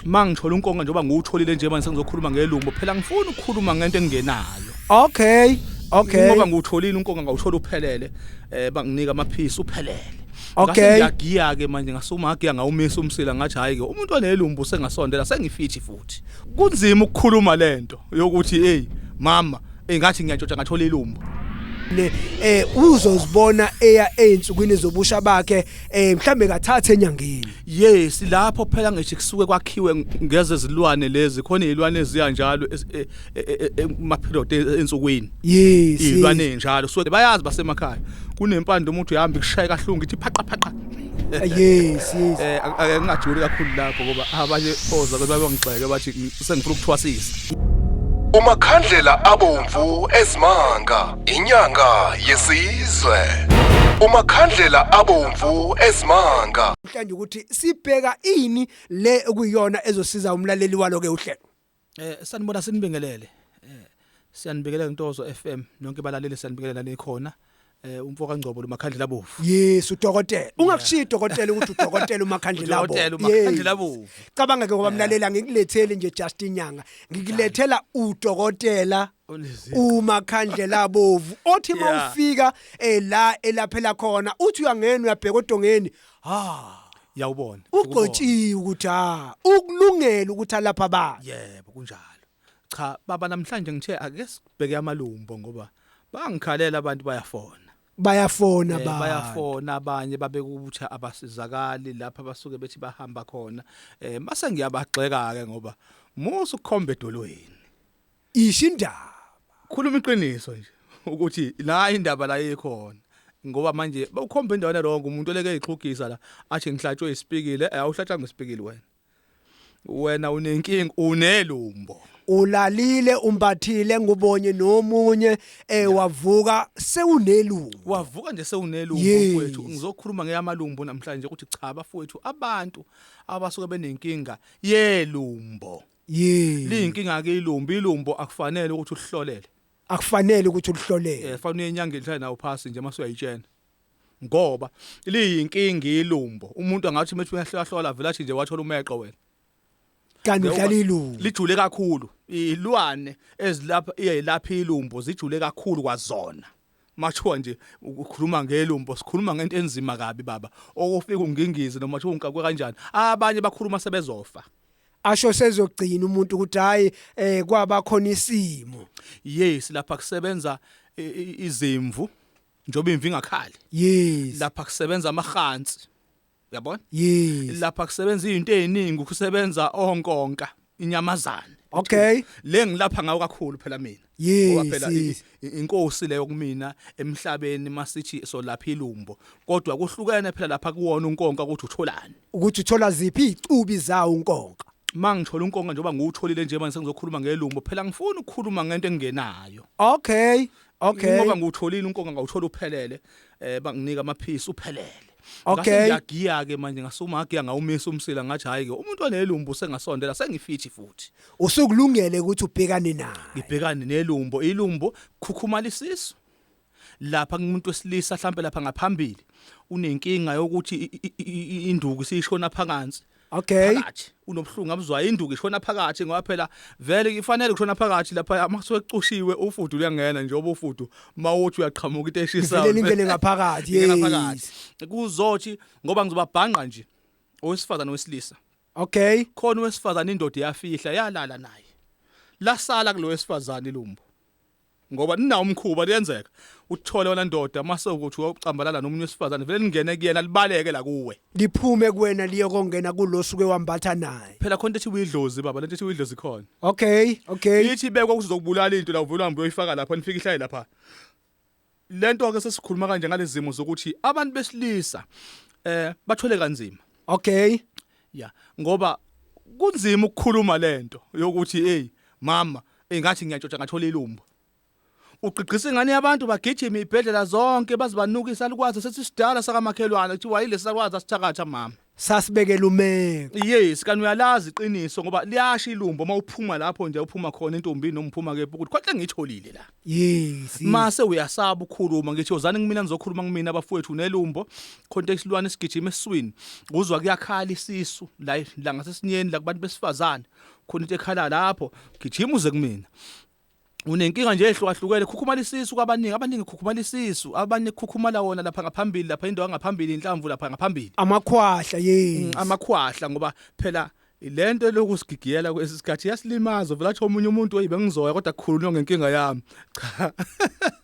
Uma ngithola unkonga njengoba ngiwutholile nje manje sengizokhuluma ngelumbo phela ngifuna ukukhuluma ngento engingenayo. Okay. Okay. Ngoba ngiwutholile unkonga ngawuthola uphelele eh banginika amaphisi uphelele. Okay. Ngiyagiya ke manje ngasuma agiya ngawumisa umsila ngathi hayi ke umuntu onelumbu sengasondela sengifithi futhi. Kunzima ukukhuluma lento yokuthi hey mama engathi ngiyatshotsha ngathola ilumbu. ne eh uzozibona eya einsukwini zobusha bakhe eh mhlambe kathathe enyangeni Yes lapho phela ngisho kusuke kwakhiwe ngeze zilwane lezi khona izilwane eziya njalo e, e, e, emaphirot ensukwini. Yes. Izilwane njalo so bayazi basemakhaya. Kunempande umuntu uhamba ikushaye kahlungu ithi phaqa phaqa. Yes yes. Eh akengajuli kakhulu lapho ngoba abanye oza ke babangixeke bathi sengifuna ukuthwasisa umakhandlela abomvu ezimanga inyanga yesizwe umakhandlela abomvu ezimanga mhlanje ukuthi sibheka ini le okuyiyona ezosiza umlaleli walo ke uhlelo eh sanibona sinibingelele eh siyanibingelela intozo FM nonke balaleli siyanibingelela le khona eh umfo kaNgcobo lomakhandlela bovu yes udokotela ungakushiya udokotela ukuthi udokotela umakhandlela bovu udokotela umakhandlela bovu cabanga ke ngoba mlalela ngikulethele nje just inyanga ngikulethela udokotela umakhandlela bovu othi mawufika eh, la elaphela khona uthi uyangena uyabheka odongeni ha yawubona ugcotshiwe ukuthi ha ukulungela ukuthi alapha ba yebo kunjalo Cha baba namhlanje ngithe ake sibheke amalumbo ngoba bangikhalela abantu bayafona. bayafona Eh, ba bayafona abanye babekutha abasizakali lapha basuke bethi bahamba khona eh mase ngiyabagxeka ke ngoba musu khombe edolweni isho indaba khuluma iqiniso nje ukuthi la indaba la ikhona ngoba manje bawukhomba endaweni rongo umuntu oleke ixhugisa la athi ngihlatshwe isipikile eh awuhlatshanga isipikile wena wena unenkinga unelumbo ulalile umbathile ngubonye nomunye eh wavuka sewunelungu wavuka nje sewunelungu Yes. mfowethu ngizokhuluma ngeyamalumbo namhlanje ukuthi cha bafowethu abantu abasuke benenkinga yelumbo yini liyinkinga ke ilumbo ilumbo akufanele ukuthi ulihlolele akufanele ukuthi ulihlolele eh fanele uyenyangeni hlale nawo phasi nje mase uyayitshena ngoba liyinkinga ilumbo umuntu angathi methi uyahlahlola vele athi nje wathola umeqo wena kanti udlala ilumbo lijule kakhulu ilwane ezilapha iyelapha ilumbo zijule kakhulu kwazona mathiwa nje ukhuluma ngelumbo sikhuluma ngento enzima kabi baba okufika ungingize noma thiwa unkakwe kanjani abanye bakhuluma sebezofa asho sezogcina umuntu ukuthi hayi eh kwaba khona isimo yes lapha kusebenza izimvu njoba imvi ngakhali yes lapha kusebenza amahansi uyabona yes lapha kusebenza izinto eziningi kusebenza onkonka inyamazane okay le ngilapha ngawo kakhulu phela mina ngoba phela inkosi leyo kumina emhlabeni masithi solapha ilumbo kodwa kuhlukene phela lapha kuwona unkonka ukuthi utholani ukuthi uthola ziphi icubi zawo unkonka mangithola unkonka njengoba ngiwutholile nje manje sengizokhuluma ngelumbo phela ngifuna ukukhuluma ngento engenayo okay Okay. Ngoba ngiwutholile unkonga ngawuthola uphelele eh banginika amaphisi uphelele. Okay. Ngiyagiya ke manje ngasuma agiya ngawumisa umsila ngathi hayi ke umuntu onelumbu sengasondela sengifithi futhi. Usukulungele ukuthi ubhekane naye. Ngibhekane nelumbo ilumbo khukhumala isisu. Lapha kumuntu wesilisa mhlambe lapha ngaphambili unenkinga yokuthi induku siyishona phansi. Okay. Phakathi unobuhlungu abuzwayo induku ishona phakathi ngoba phela vele ifanele kushona phakathi lapha maswecushiwe ufudu uyangena njengoba ufudu mawuthi uyaqhamuka into eshisayo. Vele ingene ngaphakathi. Ingene ngaphakathi. Kuzothi ngoba ngizobabhanqa nje owesifazana wesilisa. Okay. Khona owesifazana indoda yafihla yalala naye. Lasala kulowesifazana ilumbo. ngoba ninawo umkhuba liyenzeka uthole wena ndoda mase ukuthi ucambalala nomunye wesifazane vele lingene kuyena libaleke la kuwe liphume kuwena liyokongena kulosuke wambatha naye phela khona ethi uyidlozi baba lento ethi uyidlozi khona okay okay ithi bekwa kuzokubulala into la uvula uhambe uyoyifaka lapha nifike ihlaye lapha lento ke sesikhuluma kanje ngalezimo zokuthi abantu besilisa eh bathwele kanzima okay ya ngoba kunzima ukukhuluma lento yokuthi hey mama engathi ngiyatshotsha ngathola ilumbo ugqigqisa ingane yabantu bagijima ibhedlela zonke bazibanukisa likwazi sesisidala sakamakhelwane kuthiwa yilesi sakwazi asithakatha mama sasibekela umeko yes kanti uyalazi iqiniso ngoba liyasha ilumbo uma uphuma lapho nje uphuma khona intombi noma uphuma kephi ukuthi khonhle ngiyitholile la Yes. Mase uyasaba ukhuluma ngithi yozani kumina nizokhuluma kumina abafowethu nelumbo khonto isilwane sigijima esiswini kuzwa kuyakhala isisu la la ngasesinyeni la kubantu besifazane khona into ekhala lapho gijima uze kumina unenkinga nje ehlukahlukene khukhumala isisu kwabaningi abaningi khukhumala isisu abanye khukhumala wona lapha ngaphambili lapha indawo ngaphambili inhlamvu lapha ngaphambili amakhwahla yes mm, amakhwahla ngoba phela Lento eloku sigigiyela kwesi sikhathi yasilimaza vela athi omunye umuntu oyibe ngizoya kodwa kukhulunywa ngenkinga yami. Cha.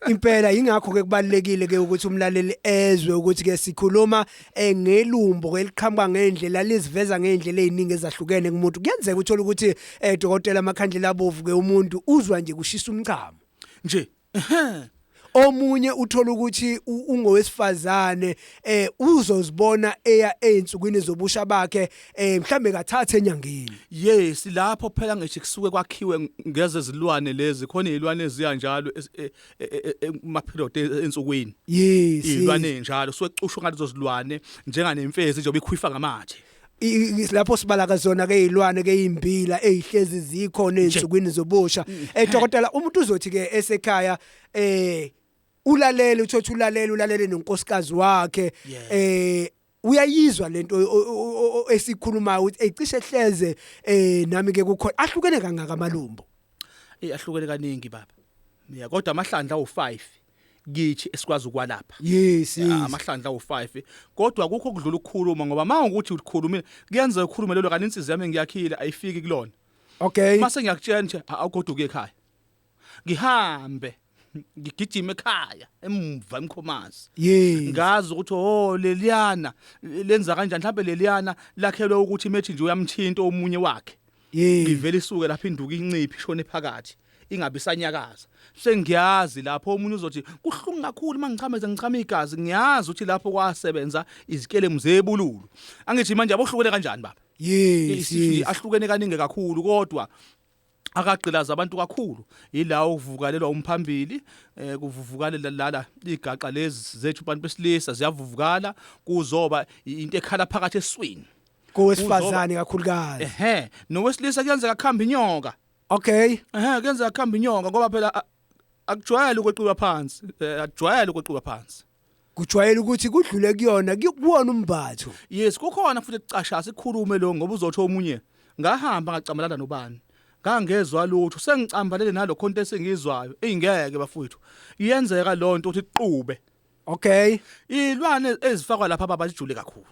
Impela ingakho ke kubalekile ke ukuthi umlaleli ezwe ukuthi ke sikhuluma eh, ngelumbo eliqhamuka ngendlela liziveza ngendlela eziningi ezahlukene kumuntu. Kuyenzeka uthola ukuthi eh dokotela amakhandlela abovu ke umuntu uzwa nje kushisa umchamo. Nje omunye uthola ukuthi ungowesifazane eh uzozibona eya einsukwini zobusha bakhe eh mhlambe kathathe enyangeni yes lapho phela ngisho kusuke kwakhiwe ngeze zilwane lezi khona izilwane eziyanjalo e, e, e, ma period ensukwini yes izilwane njalo suke cushwa ngathi zozilwane njenganemfezi njengoba ikhwifa ngamathe lapho sibala kazona ke izilwane ke izimbila ezihlezi zikhona ezinsukwini zobusha mm. eh dokotela umuntu uzothi ke esekhaya eh ulalele uthothi ulalele ulalele nonkosikazi wakhe eh uyayizwa lento esikhulumayo ukuthi ecishe hleze eh nami ke kukhona ahlukene kangaka amalumbo eh ahlukene kaningi baba yeah kodwa amahlandla u5 kithi esikwazi ukwalapha yes yes amahlandla u5 kodwa akukho kudlula ukukhuluma ngoba mawukuthi ukhulumile kuyenzeka ukhulume lelo kanti insizwa yami ngiyakhile ayifiki kulona okay mase ngiyakutshela nje awugoduke ekhaya ngihambe ngigijima ekhaya emva emkhomazi yes ngazi ukuthi oh leliyana lenza kanjani mhlawumbe leliyana lakhelwe ukuthi methi nje uyamthinta omunye wakhe Yey. ivele isuke lapha induku inciphi ishone phakathi ingabe isanyakaza sengiyazi lapho omunye uzothi kuhlungu kakhulu uma ngichama ize ngichama igazi ngiyazi ukuthi lapho kwasebenza izikelemu zebululu angithi manje abohlukene kanjani baba Yes. isithi yes. ahlukene kaningi kakhulu kodwa akagqilaza abantu kakhulu yilawo kuvukalelwa umphambili eh kuvuvukalela lala igaqa lezi zethu abantu besilisa ziyavuvukala kuzoba i- into ekhala phakathi eswini kowesifazane kakhulukazi ehe nowesilisa kuyenzeka khamba inyoka okay ehe kuyenzeka khamba inyoka ngoba phela a- akujwayele ukweqiwa phansi eh, akujwayele ukweqiwa phansi kujwayele ukuthi kudlule kuyona kuwona umbatho yes kukhona futhi ekucasha sikhulume lo ngoba uzothi omunye ngahamba ngacamalana nobani ngangezwa lutho sengicambalele nalokho into esengizwayo ingeke bafowethu iyenzeka lonto ukuthi iqube okay ilwane ezifakwa lapha baba zijule kakhulu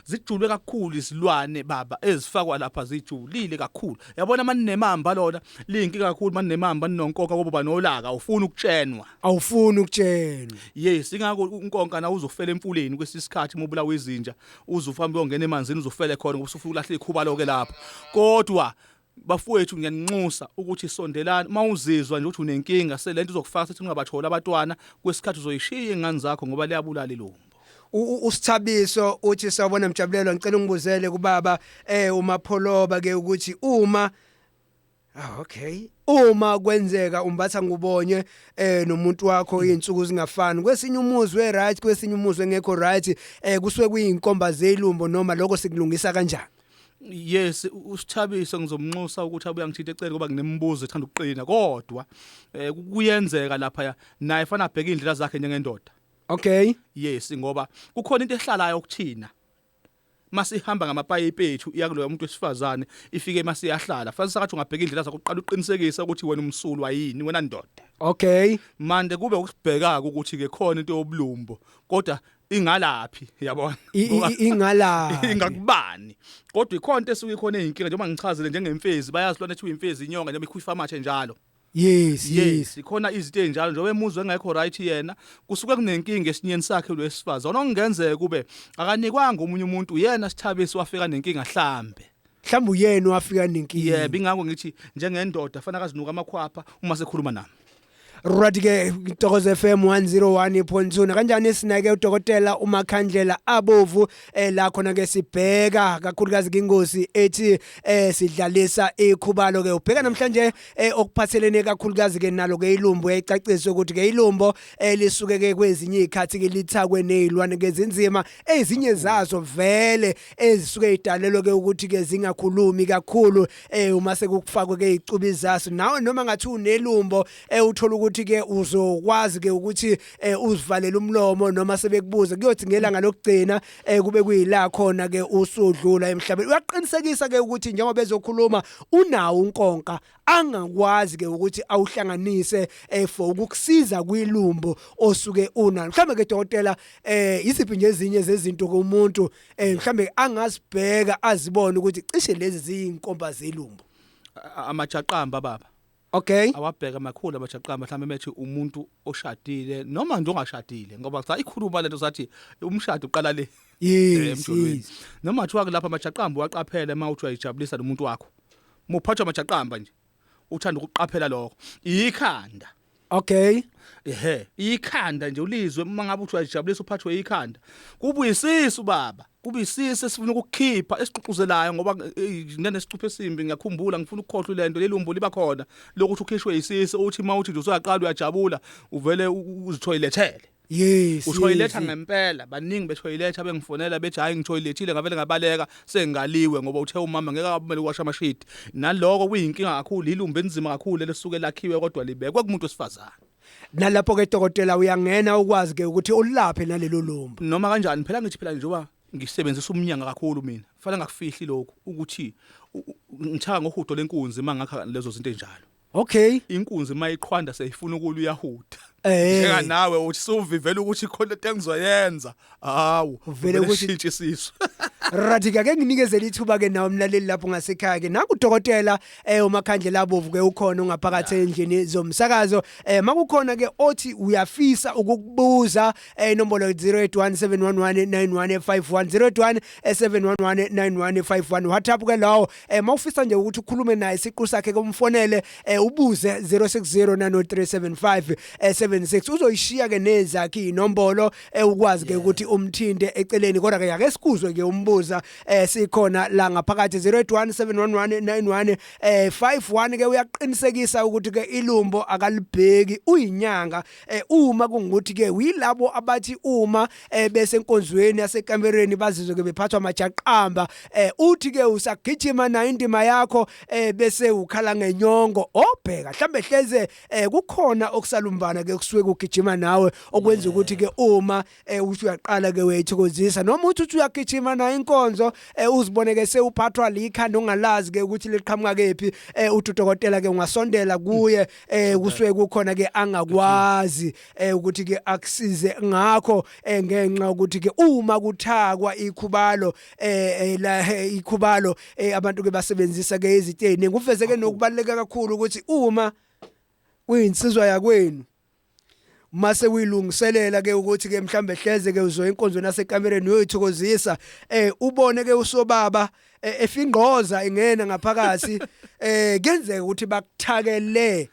zijulwe kakhulu izilwane baba ezifakwa lapha zijulile kakhulu yabona maninemamba lona liyinkinga kakhulu maninemamba ninonkonka kobo banolaka ufuna ukutshenwa awufuni ukutshenwa yes ingakho unkonka na uzofela emfuleni kwesisikhathi mobulawa izinja uzufamba uyongena emanzini uzofele khona ngoba usufuna ukulahle ikhuba loke lapha kodwa bafowethu ngiyaninxusa ukuthi sondelani uma uzizwa nje ukuthi unenkinga selento izokufaka sethi ungabatholi abatwana kwesikhathi uzoyishiya ingane zakho ngoba liyabulala ilungu usithabiso uthi sawubona mjabulelo ngicela ungibuzele kubaba eh umapholoba ke ukuthi uma Ah okay. Uma kwenzeka umbatha ngubonye eh nomuntu wakho izinsuku zingafani. Kwesinye umuzi we right, kwesinye umuzi engekho right, eh kusuke kuyinkomba zelumbo noma lokho sikulungisa kanjani? yes usithabise ngizomnxusa ukuthi abuya ngithinta eceleni ngoba nginemibuzo ethanda ukuqina kodwa eh, kuyenzeka lapha ya naye fana abheke indlela zakhe njengendoda okay yes ngoba kukhona into ehlalayo ukuthina masihamba ngamapayipi ethu iyakuloya umuntu wesifazane ifike masiyahlala fanele sakathi ungabheka indlela zakho uqala uqinisekise ukuthi wena umsulwa yini wena ndoda okay manje kube ukusibhekaka ukuthi ke khona into yobulumbo kodwa ingalaphi yabona I- i- i- ingalaphi? ingakubani kodwa ikhona into esuke ikhona eyinkinga njengoba ngichazile njengemfezi bayazi lona ethiwa imfezi inyonga njengoba ikhufa amathe njalo yes yes yes ikhona izinto ezinjalo njengoba emuzwe engekho right yena kusuke kunenkinga esinyeni sakhe lwesifazana okungenzeka kube akanikwanga omunye umuntu yena sithabisi wafika nenkinga hlambe mhlawumbe uyena owafika nenkinga yebo ingakho ngithi njengendoda fanele akazinuka amakhwapha uma sekhuluma nami Right ke Ntokozo FM 101.2 nakanjani sinake udokotela uMakhandlela abovu eh la khona ke sibheka kakhulukazi ingozi ethi eh sidlalisa ikhubalo ke ubheka namhlanje eh okuphathelene kakhulukazi ke nalo ke ilumbo ecaciswe ukuthi ke ilumbo elisuke eh, ke kwezinye izikhathi ke lithakwe nezilwane ke zinzima ezinye zazo vele ezisuke idalelwe ke ukuthi ke zingakhulumi kakhulu eh uma sekufakwe ke icubi zaso nawe noma ngathi unelumbo eh uthola ukuthi ke uzokwazi ke ukuthi eh uzivalele umlomo noma sebekubuze kuyothi ngelanga lokugcina eh kube kuyila khona ke usudlula emhlabeni uyaqinisekisa ke ukuthi njengoba ezokhuluma unawo unkonka angakwazi ke ukuthi awuhlanganise eh, for ukukusiza kwilumbo osuke unalo mhlambe ke dokotela eh yisiphi nje ezinye zezinto komuntu eh mhlambe angasibheka azibone ukuthi cishe lezi ziyinkomba zelumbo amajaqamba baba Okay. Awabheka makhulu abajaqamba mhlawumbe methi umuntu oshadile noma nje ongashadile ngoba cha ikhuluma lento sathi umshado uqala le. Yes. Eh, noma kuthiwa kulapha amajaqamba waqaphela uma uthi uyajabulisa nomuntu wakho. muphathwa majaqamba nje uthanda ukuqaphela lokho ikhanda okay ehe ikhanda nje ulizwe uma ngabe uthi uyajabulisa uphathwe ikhanda kubuyisisa ubaba kubuyisisa esifuna ukukhipha esiququzelayo ngoba nginesicuphe esimbi ngiyakhumbula ngifuna ukukhohlwa lento lelumbo liba khona lokuthi ukhishwe isisi uthi mawuthi nje usuyaqala uyajabula uvele uzithoyilethele Yes. Utoiletha yes. ngempela baningi betoiletha bengifonela bethi hayi ngitoilethile ngavele ngabaleka sengaliwe ngoba uthe umama ngeke akumele uwasha amashidi. Naloko kuyinkinga kakhulu ilumbe enzima kakhulu lesuke lakhiwe kodwa libekwe kumuntu wesifazane. Nalapho ke dokotela uyangena ukwazi ke ukuthi ulaphe nalelo lumbu. Noma kanjani phela ngithi phela njengoba ngisebenzisa umnyanga kakhulu mina. Fanele ngakufihli lokhu ukuthi ngithaka ngohudo lenkunzi mangakha lezo zinto enjalo. Okay. Inkunzi mayiqhwanda seyifuna ukulu yahuda. Eh. Njeka nawe uthi suvivela ukuthi khona into engizoyenza. Hawu. Uvele ukuthi shintshe isisu. Radika ke nginikezela ithuba ke nawo mlaleli lapho ngasekhaya ke naku dokotela eh umakhandlela abovu ke ukhona ungaphakathi endlini zomsakazo eh makukhona ke othi uyafisa ukukubuza eh inombolo 0817119151 0817119151 WhatsApp ke lawo eh mawufisa nje ukuthi ukhulume naye siqu sakhe komfonele eh ubuze 06090375 eh 76 uzoyishiya ke nezakhe inombolo eh ukwazi ke ukuthi umthinte eceleni kodwa ke yake sikuzwe ke umbuza eh sikhona la ngaphakathi 08171191 eh 51 ke uyaqinisekisa ukuthi ke ilumbo akalibheki uyinyanga Eh uma kungukuthi ke uyilabo abathi uma eh, besenkonzweni yasekamereni bazizwe ke bephathwa amajaqamba eh uthi ke usagijima nayo indima yakho eh bese ukhala ngenyongo obheka mhlambe hleze eh kukhona okusalumbana ke kusuke kugijima nawe okwenza ukuthi ke uma eh uthi uyaqala ke wethokozisa noma uthi uthi uyagijima nayo inkonzo eh uzibone ke sewuphathwa likhanda ongalazi ke ukuthi liqhamuka kephi eh uthi udokotela ke ungasondela kuye eh kusuke kukhona ke angakwazi eh ukuthi ke akusize ngakho eh ngenxa ukuthi ke uma kuthakwa ikhubalo eh, eh la eh, ikhubalo eh, abantu ke basebenzisa ke iziteni ngufeze ke nokubaleka kakhulu ukuthi uma kuyinsizwa yakwenu mase uyilungiselela ke ukuthi ke mhlambe hleze ke uzoya enkonzweni yasekamereni uyoyithokozisa eh ubone ke usobaba eh, efingqoza ingena ngaphakathi eh kenzeka ukuthi bakuthakele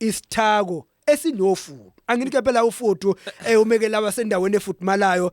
isithako esinofudu anginike phela ufudu eh umekela abasendaweni efudumalayo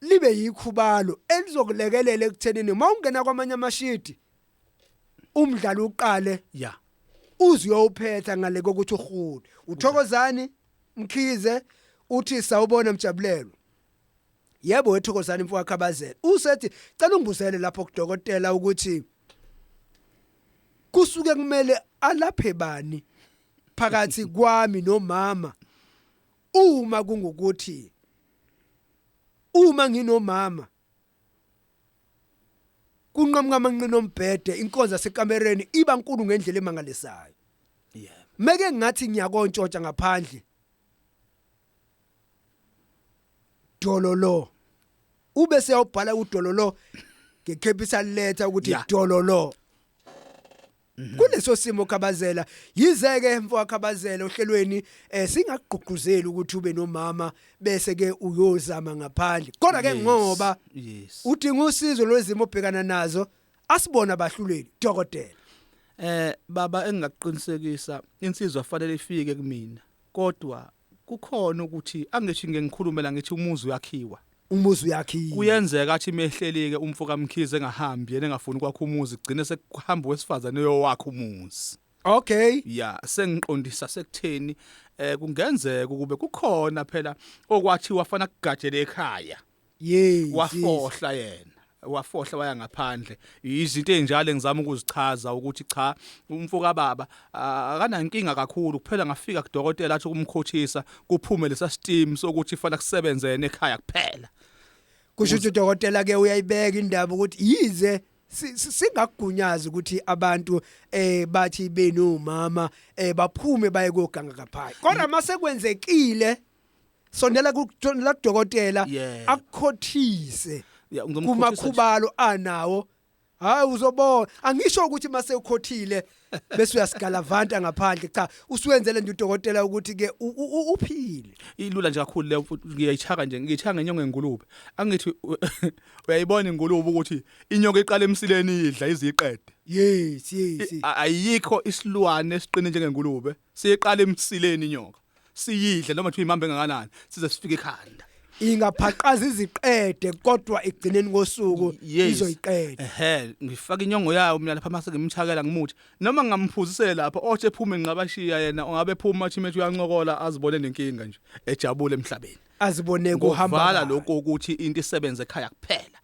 libe yikhubalo elizokulekelela ekuthenini uma ungena kwamanye amashidi umdlalo uqale ya uze uyophetha ngale kokuthi uhule uthokozani mkhize uthi sawubona mjabulelo yebo wethokozani mfowakhe abazele usethi cela ungibuzele lapho kudokotela ukuthi kusuke kumele alaphe bani phakathi kwami nomama Uma kungukuthi uma nginomama kunqamuka amanqina ombhede inkonzo yasekamereni iba nkulu ngendlela emangalisayo yebo meke ngathi ngiyakontshotsha ngaphandle dololo ube seyawubhala udololo ngecapital letter ukuthi dololo Mhm. kuleso simo khabazela yize ke mfoka khabazela ohlelweni eh singakugqugquzeli ukuthi ube nomama bese ke uyozama ngaphandle kodwa ke ngoba yes udinga usizo lwezimo obhekana nazo asibona abahluleli dokotela eh baba engakuqinisekisa insizwa fanele ifike kumina kodwa Kukhona ukuthi angithi ngike ngikhulume la ngithi umuzi uyakhiwa. Umuzi uyakhiwa. Kuyenzeka athi mehlelike umfo kaMkhize engahambi yena engafuni ukwakha umuzi kugcine sekuhamba wesifazane oyowakha umuzi. Okay. Yeah, sengiqondisa sekutheni eh kungenzeka ukube kukhona phela okwathi wafana kugajele ekhaya. Yes. wafohla yena wafohla waya ngaphandle izinto ezinjalo engizama ukuzichaza ukuthi cha umfo kababa ah, akanankinga kakhulu kuphela ngafika kudokotela athi ukumkhothisa kuphume lesa steam sokuthi fanele kusebenze yena ekhaya kuphela Kusho ukuthi udokotela ke uyayibeka indaba ukuthi yize si- si- singakugunyaza ukuthi abantu eh bathi benu mama eh baphume baye koganga kaphayi. Kodwa mase kwenzekile sondela kuthola dokotela Yeah. akukhothise Ya, ngizomkhothisa nje. kumakhubalo anawo hayi uzobona angisho ukuthi mase ukhothile bese uyasigalavanta ngaphandle cha usuwenzele nje udokotela ukuthi ke u- u- u- uphile ilula nje kakhulu leyo futhi ngiyayichaka nje ngiyichaka ngenyongo yengulube angithi u- uyayibona ingulube ukuthi inyoka iqala emsileni idla iziqede yes yes yes. A- ayikho isilwane esiqine njengengulube siyiqala emsileni inyoka siyidle noma kuthiwa imamba engakanani size sifike ekhanda ingaphaqaza iziqede kodwa ekugcineni kosuku Yes. izoyiqeda ehe ngifaka inyongo yayo mina lapha mase ngimchakela ngimuthi noma ngamphuzisele lapha othi ephume nqabashiya yena ungabe phuma athi methi uyancokola azibone nenkinga nje ejabule emhlabeni azibone kuhamba ngovala kahle. lokho ukuthi into isebenze ekhaya kuphela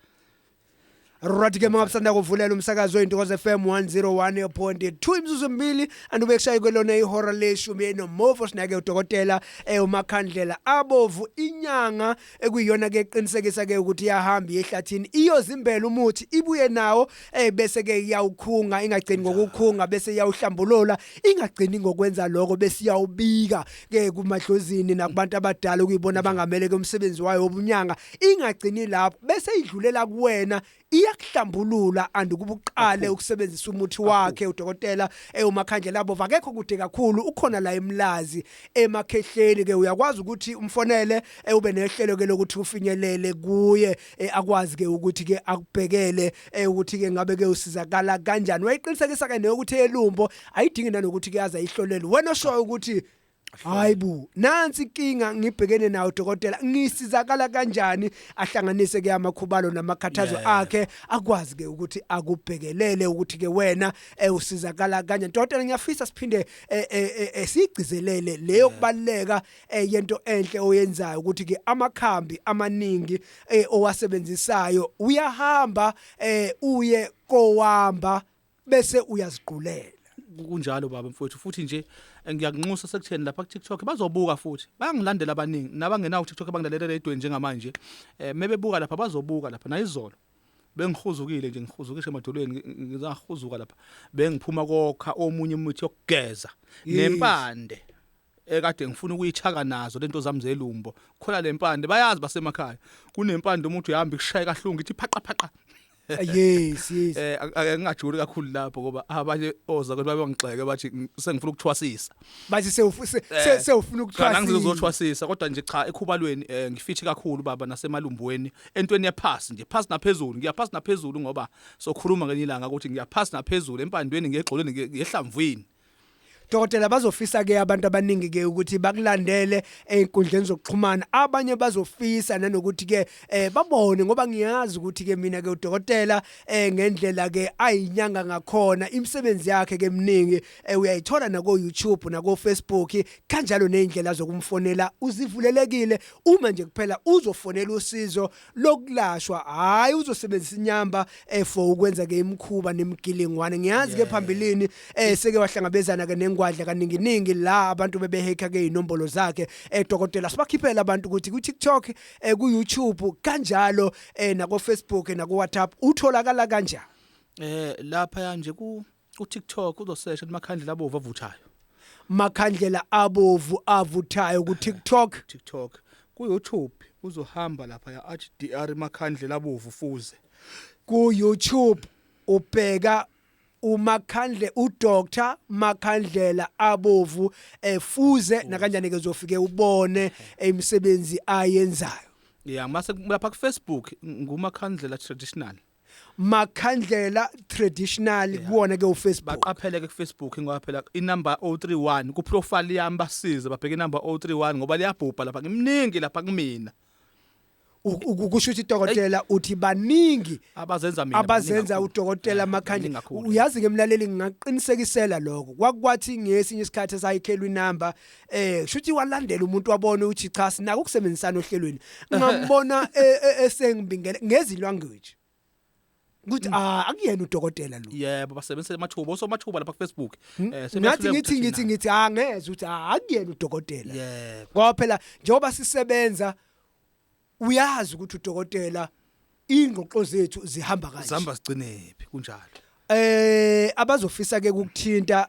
Right ke mabusanda kuvulela umsakazo weNtokozo FM 101.2 imizuzu emibili andube kushaye kwelona ihora leshumi enomofo sinake udokotela eh umakhandlela abovu inyanga ekuyiyona ke qinisekisa ke ukuthi yahamba yehlathini iyozimbela umuthi ibuye nawo eh bese ke iyawukhunga ingagcini ngokukhunga bese iyawuhlambulula ingagcini ngokwenza lokho bese iyawubika ke kumadlozini nakubantu abadala okuyibona abangamele ke umsebenzi wayo wobunyanga ingagcini lapho bese idlulela kuwena iyakuhlambulula and ukuba uqale ukusebenzisa umuthi wakhe udokotela ewumakhandlela abo vakekho kude kakhulu ukhona la emlazi emakhehleni ke uyakwazi ukuthi umfonele eh, ube nehlelo ke lokuthi ufinyelele kuye eh, akwazi ke ukuthi ke akubhekele eh, ukuthi ke ngabe ke usizakala kanjani wayiqinisekisa ke neyokuthi elumbo ayidingi nanokuthi kuyaza ihlolelwe wena oshoyo ukuthi hayi bu nansi inkinga ngibhekene nawo dokotela ngisizakala kanjani ahlanganise ke amakhubalo namakhathazo Yeah. akhe akwazi ke ukuthi akubhekelele ukuthi ke wena eh, usizakala kanjani dokotela ngiyafisa siphinde eh, eh, eh, eh, sigcizelele leyo kubaleka eh, yento enhle oyenzayo ukuthi ke amakhambi amaningi eh, owasebenzisayo uyahamba eh, uye kowamba bese uyaziqulela kunjalo baba mfowethu futhi nje eh, ngiyakunxusa sekutheni lapha ku TikTok bazobuka futhi bayangilandela abaningi nabangenawo ku TikTok bangilalela edweni njengamanje eh mebebuka lapha bazobuka lapha nayizolo bengihuzukile nje ngihuzukishe emadolweni ngizahuzuka lapha bengiphuma kokha omunye umuthi yokugeza nempande ekade ngifuna ukuyithaka nazo lento zami zelumbo khona lempande bayazi basemakhaya kunempande uma uthi uhamba ikushaye kahlungu ithi phaqa phaqa yes yes eh ngingajuli kakhulu lapho ngoba abanye oza kodwa babangixeke bathi sengifuna ukuthwasisa bathi sewufuna eh, sewufuna ukuthwasisa ngizothwasisa kodwa nje cha ekhubalweni eh, ngifithi kakhulu baba nasemalumbweni entweni yephasi nje phasi naphezulu ngiyaphasi naphezulu ngoba sokhuluma ngenye ilanga ukuthi ngiyaphasi naphezulu empandweni ngegxolweni ngehlamvwini Dokotela bazofisa ke abantu abaningi ke ukuthi bakulandele einkundleni zokuxhumana abanye bazofisa nanokuthi ke eh babone ngoba ngiyazi ukuthi ke mina ke udokotela eh ngendlela ke ayinyanga ngakhona imisebenzi yakhe ke mningi eh, uyayithola nako YouTube nako Facebook kanjalo nezindlela zokumfonela uzivulelekile uma nje kuphela uzofonela usizo lokulashwa hayi uzosebenzisa inyamba eh, for ukwenza ke imkhuba nemgilingwane ngiyazi ke phambilini eh, seke wahlangabezana ke nengwadla kaninginingi la abantu bebeheka ke inombolo zakhe eh, dokotela sibakhiphela abantu ukuthi ku TikTok eh, ku YouTube kanjalo eh, nako Facebook eh, nako WhatsApp utholakala kanjani Eh lapha nje ku uTikTok uzosesha amakhandlela abovu avuthayo makhandlela abovu avuthayo ku TikTok TikTok ku YouTube uzohamba lapha ya HDR makhandlela abovu fuze ku YouTube ubheka umakhandle udr makhandlela abovu efuze eh, nakanjani ke uzofike ubone imisebenzi ayenzayo yeah mase lapha ku Facebook ngumakhandlela traditional Makhandlela traditional Yeah. kuwona ke uFacebook. baqaphele ke kufacebook ngoba phela inumber 031 kuprofile yami basize babheke inumber 031 ngoba liyabhubha lapha ngimningi lapha kumina U- u- Kusho ukuthi dokotela uthi baningi abazenza mina abazenza baningi kakhulu. udokotela Eh, baningi amakhandlela kakhulu. uyazi ke mlaleli ngingaqinisekisela lokho kwakwathi ngesinye isikhathi esayikhelwa inamba eh shuthi walandela umuntu wabona ukuthi cha sinaka ukusebenzisana ohlelweni ngambona e, e, esengibingele ngezi language ukuthi mm. ah akuyena udokotela lo yebo basebenzisa amathuba oso amathuba lapha ku Facebook hmm? eh ngathi ngithi ngithi ngithi ah ngeze ukuthi ah akuyena udokotela yebo ngoba phela njengoba sisebenza uyazi ukuthi udokotela ingqoqo zethu zihamba kanje zihamba sigcinephi kunjalo eh abazofisa ke ukuthinta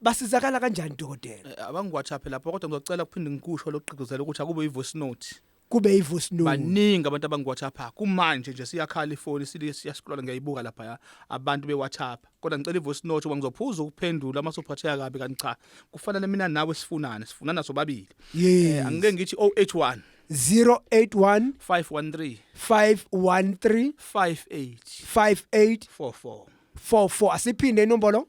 basizakala kanjani dokotela Eh, abangiwhatsapp lapho kodwa ngizocela ukuphinde ngikusho lokugqigqizela ukuthi akube ivoice note kube ivoice note baningi abantu abangiwhatsappa kumanje nje siyakhala ifoni sili- siyascrolla ngiyayibuka lapha ya abantu bewhatsappa kodwa ngicela ivoice note ngoba ngizophuza ukuphendula uma sophatheka kabi kanti cha kufanele mina nawe sifunane sifunana sobabili Yes. Eh, angike ngithi 081 081 513 513 58 58 44 44 asiphinde inombolo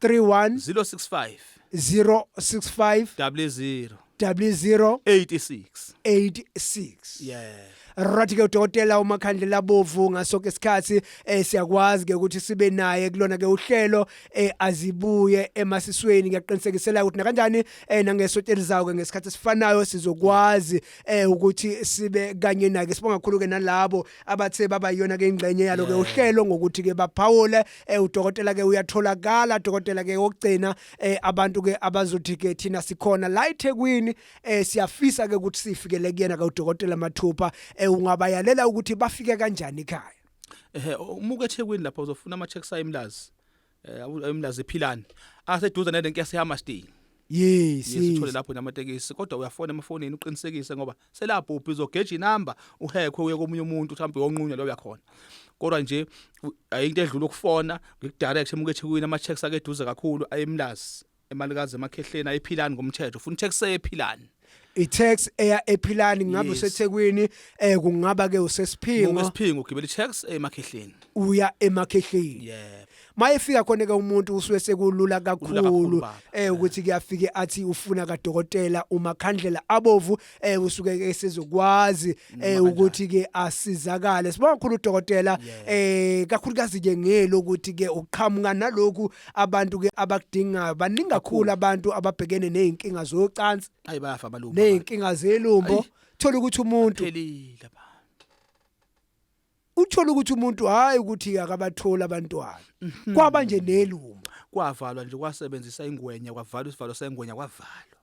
31 065 065 double zero double zero 86 86 yeah right ke udokotela umakhandlela bovu ngaso ke isikhathi eh, siyakwazi ke ukuthi sibe naye kulona ke uhlelo eh, azibuye emasisweni ngiyaqinisekisela ukuthi nakanjani eh, nangesonto elizayo ke ngesikhathi esifanayo sizokwazi eh, ukuthi sibe kanye naye sibonga kakhulu ke nalabo abathe baba yona ke ingxenye yalo ke Yeah. uhlelo ngokuthi ke baphawule eh udokotela ke uyatholakala dokotela ke okugcina eh abantu ke abazothi ke thina sikhona la eThekwini eh siyafisa ke ukuthi sifikele kuyena ka udokotela Mathupha eh ungabayalela ukuthi bafike kanjani ekhaya ehe umuke eThekwini lapha uzofuna ama checks ayimlazi eh ayimlazi ephilani aseduze nale nkesi yama stay Yes, yes. Sithole lapho namatekisi kodwa uyafona emafonini uqinisekise ngoba selabhubha izogeja inamba uhekhwe uye komunye umuntu mhlawumbe yonqunywa loyo yakhona kodwa nje ayinto edlula ukufona ngikudirect emukethi kuyini ama checks ake eduze kakhulu ayemlazi emalikazi emakhehleni ayiphilani ngomthetho ufuna tax eyephilani i-tax eya ephilani ngabe Yes. usethekwini eh kungaba ke usesiphingo ngokwesiphingo ugibela i-tax emakhehleni uya emakhehleni yebo mayefika khona ke umuntu usuke sekulula kakhulu eh ukuthi kuyafike athi ufuna kadokotela umakhandlela abovu eh usuke esezokwazi eh ukuthi ke asizakale sibonga kakhulu udokotela eh kakhulukazi ke ngelo ukuthi ke uqhamuka naloku abantu ke abakudingayo baningi kakhulu abantu ababhekene nezinkinga zocansi ayi bayafa abalumba nezinkinga zelumbo thola ukuthi umuntu phelile uthole ukuthi umuntu hayi ukuthi akabatholi abantwana mhm. kwaba nje nelunga kwavalwa nje kwasebenzisa ingwenya kwavalwa isivalo sengwenya kwavalwa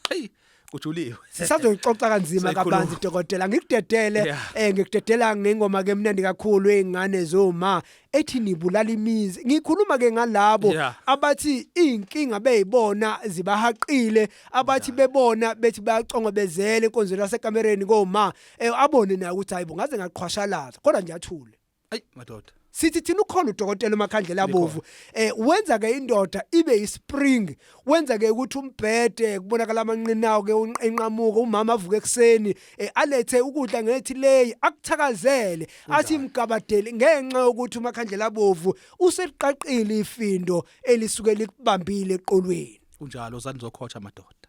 hey ujuliwe sisazoyixoxa kanzima kabanzi dokotela ngikudedele eh ngikudedela ngengoma ke mnandi kakhulu ezingane zoma ethi nibulala imizi ngikhuluma ke ngalabo abathi inkinga beyibona zibahaqile abathi bebona bethi bayaconga bezele inkonzo lasekamereni koma eh abone naye ukuthi hayibo ngaze ngaqhwashalaza kodwa nje athule ayi madoda sithi thina ukhona udokotela umakhandlela abovu eh wenza ke indoda ibe ispring wenza ke ukuthi umbhede kubonakala amanqinawo ke enqamuka umama avuke ekseni eh, alethe ukudla ngethi leyi akuthakazele athi imgabadeli ngenxa ukuthi umakhandlela abovu useliqaqile ifindo elisuke likubambile eqolweni kunjalo sanizokhotsha madoda